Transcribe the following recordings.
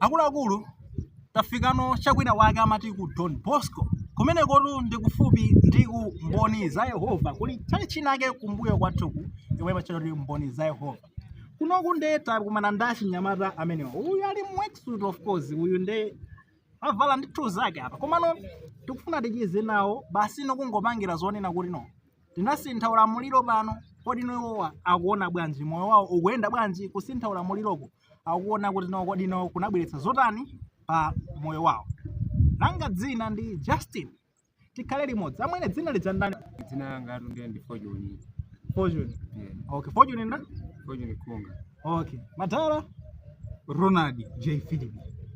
Akuluakulu, tafikano cha kwina wake amati ku Don Bosco. Kumenekotu ndi kufupi ndi ku Mboni za Yehova. Kuli tchalitchi inake kumbuyo kwathuku yomwe imatchedwa kuti Mboni za Yehova. Kunoku nde takumana ndi achinyamata amenewa. Uyu ali mu worksuit of course, uyu nde avala ndi two zake apa. Komano tikufuna ticheze nawo basi no kungopangira zonena kuti no. Tinasintha ulamuliro pano. Kodi iwowa akuona bwanji moyo wawo ukuyenda bwanji kusintha ulamuliroko? akuona kuti no kodi no kunabweretsa zotani pa moyo wawo langa dzina ndi justin tikhale limodzi amwene dzina lija ndani dzina langa atunde ndi fortune fortune Eh, okay fortune nda fortune khunga okay matala ronald j philip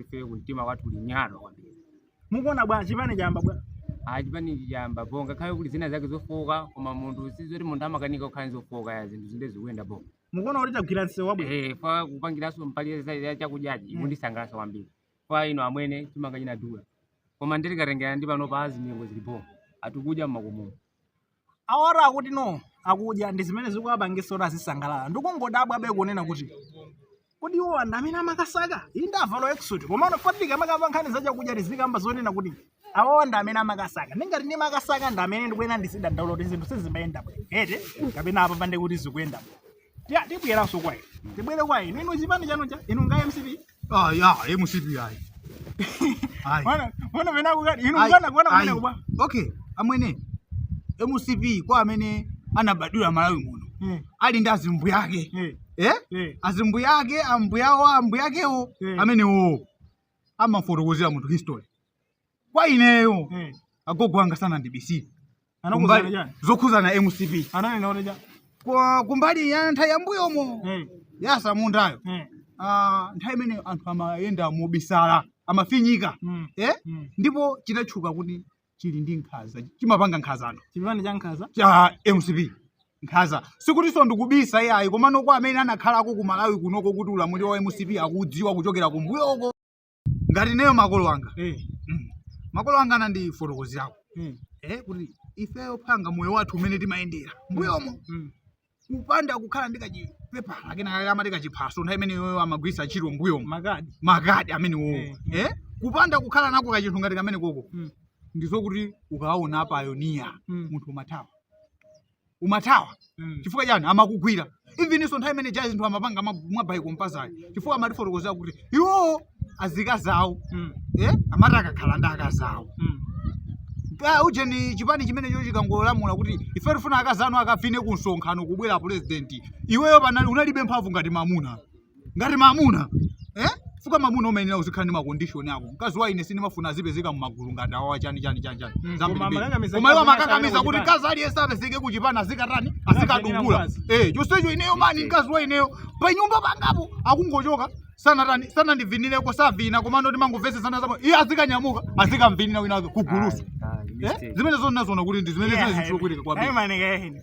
ife kumtima kwathu kulinyalo kwambiri mukuona bwanji chipani chayamba bwanji chipani chayamba bo ngakhale kuti zina zake zofooka koma munthu sizoti munthu amakanika kukhala zofooka ya zinthu zinde zikuyenda bo mukuona kuti tagwira msewu wabwino Eh, makamakanso mbali za- ya chakudyachi Mm. chikundisangalatsa kwambiri kwa ine amwene chimanga chinadula koma ndikatengera ndi pano pa azimengo zili bo anthu akudya mmakomomo awotu akuti no akudya ndi zimene zikuwapangisa kuti azisangalala ndikungodabwabe kunena kuti kodi iwo anthu amene amakasaka inu ndavala worksuit komano poti tikamakamba nkhani za chakudya tizikamba zonena kuti awawa ndi amene amakasaka ndingati ndi makasaka ndi amene ndikuyenera ndizidandaula kuti zinthu sizimayenda bwino eti kapena apapa nde kuti zikuyenda bwino Tiya- tibweranso kwa inu tibwere kwa inu inu chipani chanu cha inu nga mcp Ah, ya, ya MCP ayi. Ayi. Wana, wana mena kukati, inu Ayi, mwana kuwana ayi. mwana kuba. Okay, amwene. MCP kwa amene anabadwira Malawi muno. Eh, Ali ndi azimbuyake. eh, Eh? eh. Azimbuyake, ambuyawo, ambuyakewo, Eh. amenewo. Amafotokozera munthu history. kwa ineyo Eh. agogo anga sanandibisire Anakuuza Kumbali- chani? zokhuzana mcp Ananena kuti chani? Kwa- kumbali ya nthawi yambuyomo Eh. yasamundayo Eh. Ah, nthawi imene anthu amayenda mobisala amafinyika Mm. eh? Mm. ndipo chinatchuka kuti chili ndi nkhaza chimapanga nkhaza anthu Chipani cha nkhaza. cha mcp nkhaza si zotinso ndikubisa iyayi komano kwa amene anakhalako ku malawi kunoko kuti ulamuliro wa mcp akudziwa kuchokera kumbuyoko ngati ineyo makolo anga eh, mm, makolo anga anandifotokozerako mm, eh, kuti ifeyo phanga moyo wathu umene timayendera mbuyomo mm. kupanda kukhala ndi kachipepala kenakake amati kachiphaso nthawi imeneyo amagwiritsa ntchito mbuyomo makadi makadi amenewowo Eh, eh, kupanda kukhala nako kachinthu ngati kamenekoko Mm. ndizokuti ukaona apayoniya Mm. munthu umathawa umathawa chifukwa chani amakugwira even-nso nthawi imene ija ya zinthu amapanga ma- mwabayiko mpazayo chifukwa amatifotokozera kuti iwowo azikazi awo eh, amati akakhala ndi akazi awo Ah, ujeni chipani chimenecho chikangolamula kuti ife tifuna akazi anu akavine ku msonkhano kubwera pulezidenti iweyo panali unalibe mphamvu ngati mamuna ngati mamuna eh? fuka mamuna umayenera uzikhala ndi makondishoni ako mkazi wa ine sindimafuna azipezeka mumagulu ngati awawa chani chani chani chani Mm, Zambiri koma mbiri. amakakamiza koma iwo mkazi wake amakakamiza kuti kuchipani. mkazi aliyense apezeke kuchipani azikatani azikadukula mkazi. eh chonsecho ineyo mani mkazi wa ineyo pa nyumba pangapo akungochoka sanatani sanandivinireko savina komano timangomvesesana zabo iye azikanyamuka azikamvinira wina wake kuguluko eh zimenezo ndinaziona kuti ndi zimene zimene zikulakwika kwambiri Ayi manike.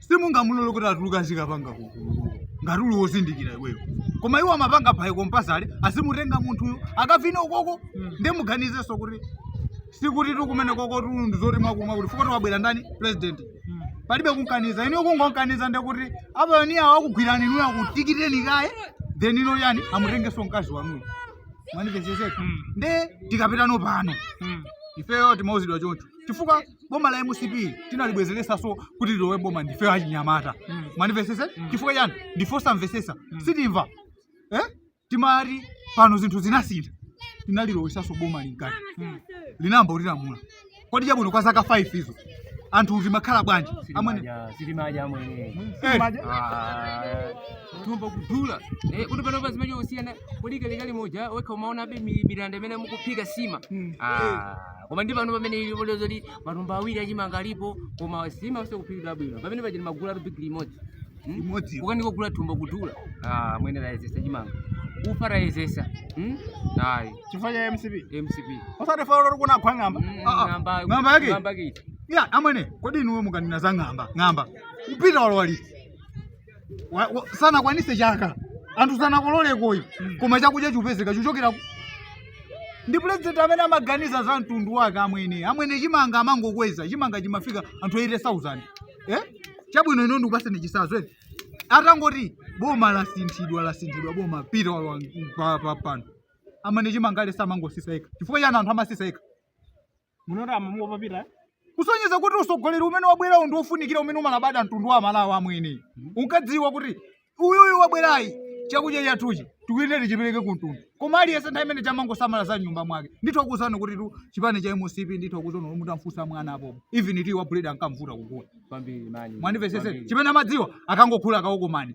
simungamulole kuti atuluka azikapanga kuguluko ngati uli wozindikira iweyo koma iwo amapanga by compulsory azimutenga munthuyo akavine ukoko nde muganizenso kuti sikuti tikumene koko tulu ndi zoti mwakumwa kuti fuka tiwabwera ndani president palibe kunkaniza inuyo kungonkaniza nde kuti apayoniya akugwirani inuyo akutikiteni kaye then ino yani amutengenso mkazi wanuyo mwandimvesesa nde tikapitano pano ifeyo timauzidwa choncho chifukwa boma la mcp tinalibwezeresanso kuti lilowe boma ndife achinyamata Mm. mwandimvesesa Mm. chifukwa chani ndife osamvesesa Mm. sitimva eh? timati pano zinthu zinasintha tinalilowesanso boma linkati Mm. linayamba kutilamula kodi chabwino kwa zaka 5 izo anthu timakhala bwanji amwene Sitimadya, sitimadya amwene. eh, Ah, thumba kudula Eh, kuti panopa zimacho kusiyana kodi kalekale muja wekha umaonabe mi- mitanda imene mukuphika sima Mm. Ah. koma ndi pano pamene ili poleza kuti matumba awiri achimanga alipo koma sima yonse kuphikidwa bwino pamene paja umagula bigili limodzi Hmm? Limodzi. kukanika kugula thumba kudula amwene woyezesa chimanga ufa woyezesa Hmm? ayi chifukwa cha mcp mcp osati faulo loti kunagwa ng'amba Mm, Ah, ah. ng'amba- ng'amba yake ng'amba yake. ya amwene kodi inuwe mukanena za ng'amba ng'amba pita walowa liti Wa- wa- sanakwanise chaka anthu sanakololekoyi koma chakudya chikupezeka chochokera ku- ndi pulezidenti amene amaganiza za mtundu wake amwene amwene chimanga amangokweza chimanga chimafika anthu 80000 eh? chabwino ine ndikupaseni chisazo eti atangoti boma lasinthidwa lasinthidwa boma pita walowa pa- pa- pano amwene chimanga aliyense amangosisa ekha chifukwa chani anthu amasisa ekha Munoto amamuopa Peter. Kusonyeza kuti usogoleri umene wabwerawo ndi wofunikira umene umalabada mtundu wa Malawi amwene. Unkadziwa kuti uyuyu wabwerayi chakudya chathuchi tikuyenera tichipereke ku mtundu. Koma aliyense nthawi imene ija amangosamala za mnyumba mwake. Nditha kuuzani kuti tu chipani cha MCP nditha kuuzani kuti mutamfunsa mwana apo. Even tiyi wa buledi ankamvuta kugula. Kwambiri mani. Mwandimvesesa chimene amadziwa akangogula kawokomani.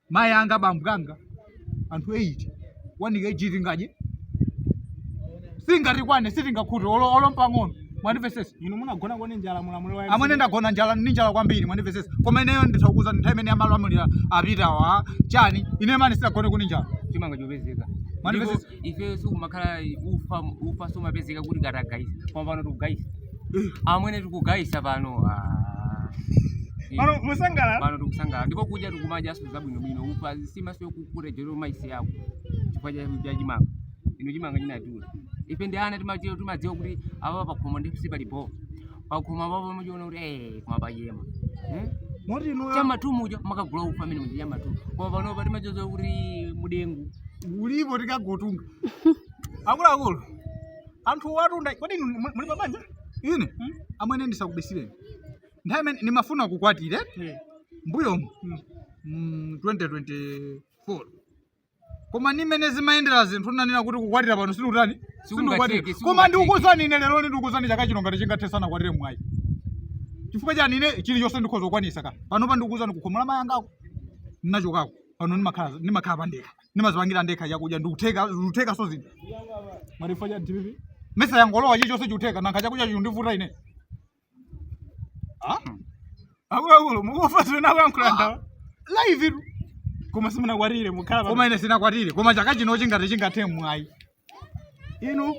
mayi anga bambo anga anthu 8 1 kg tingadye singatikwane sitingakhute olo olo mpang'ono mwandimvesesa inu munagonako ndi njala mulamuliro wa amwene ndagona njala ndi njala kwambiri mwandimvesesa koma ineyo nditha kuuza nthawi imene amalamulira apitawa chani ine mani sinagoneko ndi njala chimanga chopezeka Mwandimvesesa? ifeyo sikumakhala ufa ufa sumapezeka kuti katagayitsa koma pano tikugayitsa amwene tikugayitsa pano ah. Eh, Pano mukusangalala. pano tikusangalala ndipo kudya tikumadyanso zabwinobwino ufa nsimanso kukurejero maisi yako chifukwa cha cha chimanga inu chimanga chinatula ife ndi ana timadziwa timadziwa kuti apa pakhomo ndi sipalibwino pakhomo apapo muchiona kuti eh koma pachema Eh? moti inuyo chamatumu uja mumakagula ufa amene muja chamatumu koma panopa timadziwa kuti mudengu ulipo tikangotunga akuluakulu anthu watunda kodi inu muli- muli pabanja ine amwene ndisakubisireni nthawi imene ndimafuna kukwatira mbuyomu mm, 2024 koma ndi mmene zimayendera zinthu ndinanena kuti kukwatira pano sindikutani Sikungatheke, sindikukwatira koma sikungatheke. ndikukuwuzani ine lero ndi ndikukuwuzani chaka chino ngati chingathe ndisanakwatire mwayi chifukwa chani ine chilichonse ndikhoza kukwanisa ka panopa ndikukuwuzani kukhomo la mayi angako ndinachokako pano ndimakhala ndimakhala pandekha ndimazipangira ndekha chakudya zikutheka zikuthekanso zinthu chifukwa cha dpp mesa yangolowa chilichonse chikutheka nanga chakudya chundivuta ine akuluakulu mukumva zimene akuyankhula anawa live tu koma simunakwatire mukhala koma ine sindinakwatire koma chaka chino chingati chingathe mwayi inu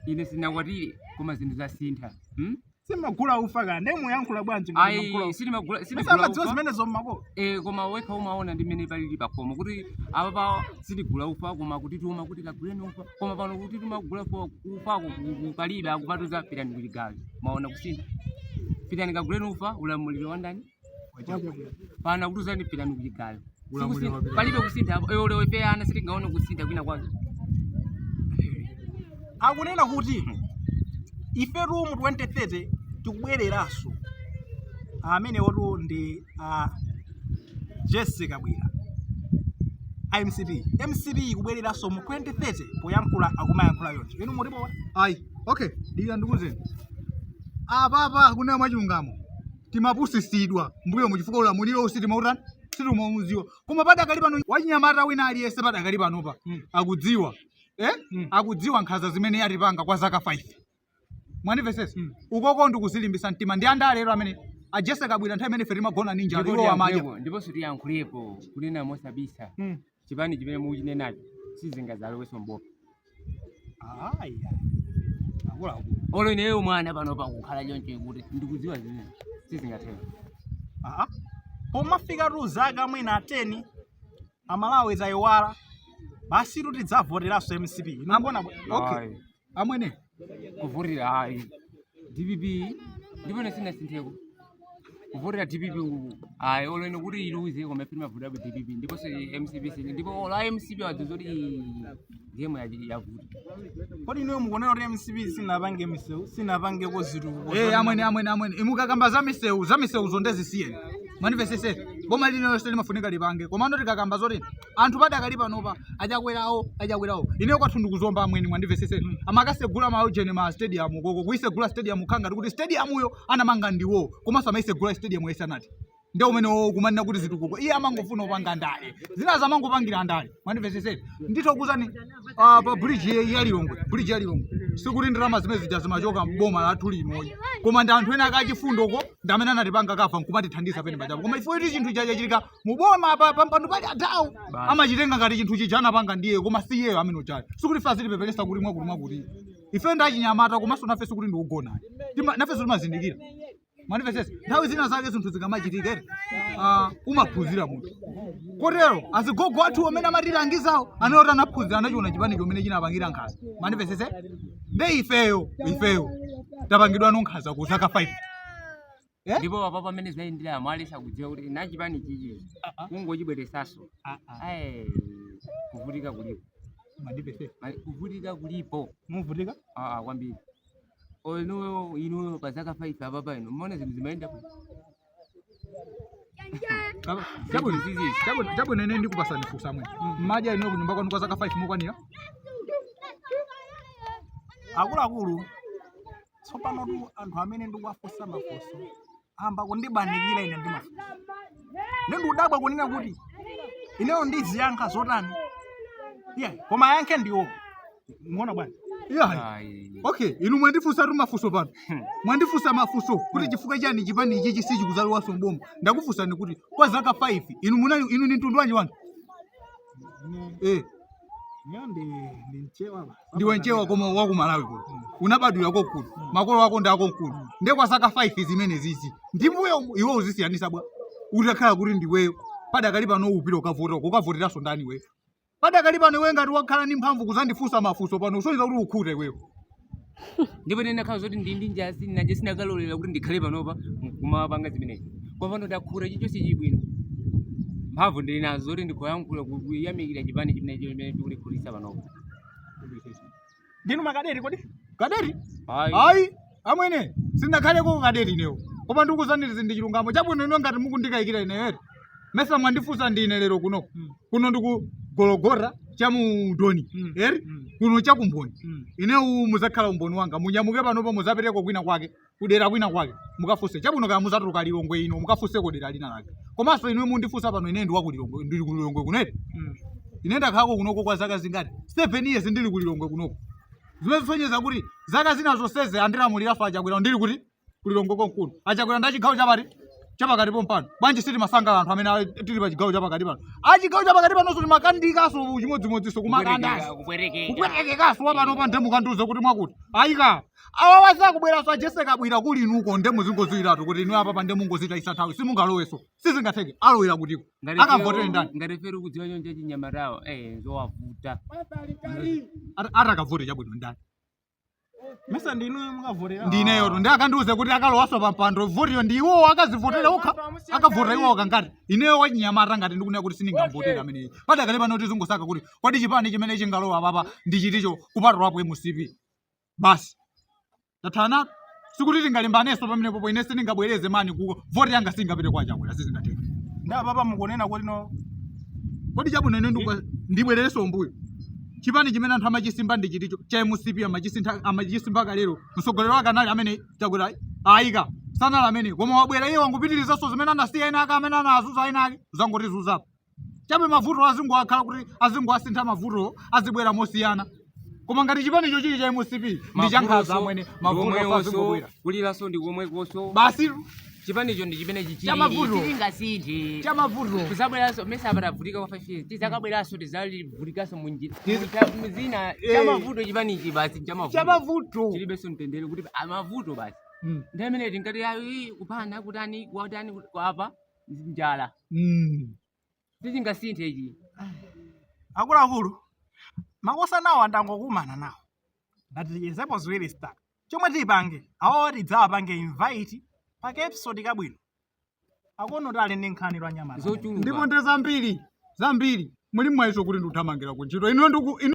ine sindinakwatire koma zinthu zasintha hmm? simagula ufa ka nde muyankhula bwanji ngati Ayi, magula ufa? sitimagula- Mesa sitigula amadziwa ufa. zimenezo mmako Eh, koma wekha umaona ndi mmene palili pakhomo kuti apa pa sitigula ufa koma kuti tituma kuti kaguleni ufa koma pano kuti timagula ufa ufako palibe akutiuza pitani kuchigayo mwaona kusintha pitani kaguleni ufa ulamuliro wa ndani pano akukuuzani pitani kuchigayo Ulamuliro wa Sikusi- palibe kusintha apo eya lero ife ana sitingaone kusintha kwina kwake akunena kuti ifetu mu 2030 tikubwereranso ameneyotu ndi a jessie kabwila a mcp mcp ikubwereranso mu 2030 poyankhula akumayankhula konseko inu mutipo ayi okay dikira ndikuuzeni apapa kunena mwachilungamo timapusitsidwa mbuyomu chifukwa ulamuliro sitimautani sitimaudziwa koma padakali pano wachinyamata wina aliyense padakali panopa akudziwa eh? akudziwa nkhanza zimene atipanga kwa zaka 5 mwandimvetsetsa ukoko ndikuzilimbisa mtima ndi anthu a lero amene a jessie kabwila nthawi imene ife timagona ndi njala iwo amadya ndiponso tiyankhulepo kunena mosabisa chipani chimene mukuchinenacho sizingadzalowenso m'boma ayi akuluakulu olo ineyo mwana panopa kukhala choncho kuti ndikudziwa zimene sizingatheke Aha. pomafika tu zaka mwina 10 amalawi adzayiwala basi tu tidzavoteranso mcp inangona okay Ayi. amwene kuvotera ayi dpp ndipo ine sinasintheko kuvotera dpp uku ayi olo ine kuti iluze koma ife timavoterabe dpp ndiponso mcp sine ndipo olo mcp yadziwa kuti game yachi- yavuta kodi inuyo mukuona kuti mcp sinapange misewu sinapangeko zitukuko Eh, amwene amwene amwene imukakamba za misewu za misewu chonde zisiyeni mwandimvetsetsa boma lina lililonse limafunika lipange komano tikakamba zoti anthu padakali panopa achakwerawo achakwerawo ine kwathu ndi ku Zomba amwene mwandimvetsetsa amakasegula maujeni ma stadium koko kuisegula stadium ngati kuti stadiumyo anamanga ndiwo komanso amaisegula stadium isanathe nde umene wo kumanena kuti zitukuko iye amangofuna kupanga ndale zinazo amangopangira ndale mwandimvetsetsa nditokuuzani ah, pa bridge ye- ya lilongwe bridge ya lilongwe sikuti ndalama zimene zija zimachoka mboma lathu lino ayi koma ndi anthu ena akufuna chifundo ko ndi amene anatipanga kafa nkumatithandiza penapake apo koma iwo poti chinthu chija chachitika muboma pampando pali atawo amachitenga ngati chinthu chija anapanga ndiye koma si iyeyo amene ujayo sikuti ife azitipepeletsa kuti mwakuti mwakuti ife ndi achinyamata komanso nafe sikuti ndife ogona ayi Tima- nafenso timazindikira mwandimvetsetsa nthawi zina zake zinthu zikamachitika ere ah, umaphunzira munthu kotero azigogo athu amene amatilangizawo anawo ti anaphunzira anachiona chipani chomene chinapangira nkhaza mwandimvetsetsa nde ifeyo ifeyo tapangidwa nkhaza kwa zaka 5 Eh? ndipo apa mmene zinayendera mwayesa kudziwa kuti chipani ichi Ah, ah, kungochibweresaso ah, ah. ayi kuvutika kulipo Mwandimvetsetsa. Ma- kuvutika kulipo Muvutika? Ah, ah, kwambiri Or inuyo inuyo pa zaka 5 apapa inu mumaona zinthu zimayenda bwino. Baba, Chabwino, Zizi, chabwino, chabwino ine ndikupasani funso amwene. Majeni inu kunyumba kwanu kwa zaka 5 mukwanira? Akuluakulu tsopanotu anthu amene ndikuwafunsa mafunso ayamba kundipanikiza ine ndi mafunso ndi ndikudabwa kunena kuti ineyo ndiziyankha zotani iya koma ayankhe ndi iwo mwaona bwana Yeah. Ayi. Okay, inu mwandifunsa tu mafunso pano. Mwandifunsa mafunso kuti chifukwa chani chipani ichi chisadzalowenso mboma. Ndakufunsani kuti kwa zaka 5 inu munali inu ni mtundu wanji wanu? Eh, Ine ndi mchewa ba. ndiwe nchewa koma wakumalawi kuno unabadwira konkuno makolo ako ndi akonkuno ndiye kwa zaka 5 zimene izi ndi mmbuyo iwe ukuzisiyanitsa bwa utakhala kuti ndiweyo padakali pano upita ukavota ukavoteranso ndani iweyo padakali pano iwe ngati wakhala ndi mphamvu kuzandifunsa mafunso pano kusonyeza kuti wakhuta iweyo ndipo ine ndikanakhala zoti ndili ndi njala sindikanalolera kuti ndikhale panopa kumapanga zimenezi koma pano ndakhuta chifukwa chake bwino mphamvu ndili nazo zoti ndikhoza kuyankhula kuyamikira chipani chimene chimene chikundikhutitsa panopa ndinu makadeti kodi kadeti ayi amwene sindakhaleko kadeti inewo koma ndikuuzani ndi chilungamo chabwino ineyo ngati mukundikayikira ineyo eti mesa mwandifunsa ndi ine lero kuno kuno ndi ku Gologota cha mu Doni Mm. eti Mm. kuno cha ku mboni Mm. inuyo muzakhala umboni wanga munyamuke panopo muzapiteko kwina kwake kudera kwina kwake mukafunse chabwino kaya muzatuluka lilongwe ino mukafunseko dera lina lake komanso inuyo mundifunsa pano ine ndi wa ku lilongwe ndili ku lilongwe kuno eti Mm. ine ndakhalako kunoko kwa zaka zingati seven years ndili ku lilongwe kunoko zimene zikusonyeza kuti zaka zina zonsezi andilamulira ifa achakwera ndili kuti ku lilongwe konkuno achakwera ndi achigawo chapati chapakati pompano bwanji sitimasangala anthu amene ali- tili pa chigawo chapakati pano achigawo chapakati panonso timadandaulanso chimodzimodzinso kumakandasi kupwetekekaso wapano pa nde mukandiuze kuti mwakuti ayika awawa sakubweranso a Jessie Kabwila kuli inuko nde muzingoziwiratu kuti inu apapa nde mungozitayisa nthawi simungalowenso sizingatheke alowera kuti akavotere ndani ngati ife tikudziwa choncho achinyamatawo eh zowavuta Ata- atakavote chabwino ndani mesa ndinu mukavotera ndi ineyoto ndi akandiuze kuti akalowaso pampando votiyo ndi iwowo akazivotera okha akavota iwowo koma ngati ineyo wachinyamata ngati ndikunena kuti sindingamvotere ameneyi padakali pano tizingosaka kuti kodi chipani chimene chingalowe apapa ndi chiticho kupatulapo mcp basi tathanatu sikuti tingalimbanenso pamenepopo ine sindingabwereze maniwo uko voti yanga singapite kwa chakwera sizingatheke nde apapa mukunena kuti no kodi chabwino ine ndikupa- ndibwererenso mbuyo chipani chimene anthu amachisimba ndi chiticho cha mcp amachisintha- amachisimba kalero mtsogoleri wake anali amene chakwera ayi koma sanali amene koma wabwera iye wangopitirizanso zimene anasiya ena ake amene anazunza ena ake azangotizunzapo chabe mavuto azingokhala kuti azingowasintha mavuto azibwera mosiyana koma ngati chipanicho chili cha mcp ndi chankhanza amwene mavuto azingobwera kulilaso ndi komwekoso basi chipanicho ndi chimene chichili Chamavuto. chingasinthe cha mavuto azabweranso mesa apatavutika kwa five years tizakabweranso tizavutikanso munjira Tiz- muzina Eh. chamavuto chipanichi basi cha chamavuto mavuto chilibenso mtendere kuti amavuto basi Mm. ndi amene tingati ayi kupanda kutani kwatani kwapa njala Mm. sichingasinthe ichi akuluakulu makosanawa ndangokumana nawo ndati tichezepo ziwiri zitatu chomwe tipange awawa tidzawapange invite pa kaepisode kabwino akonotu ali ndi nkhani anyamata ndipo zochuluka ndi zambiri zambiri mulimwayinso kuti ndikuthamangira ku ntchito ine ndiku ine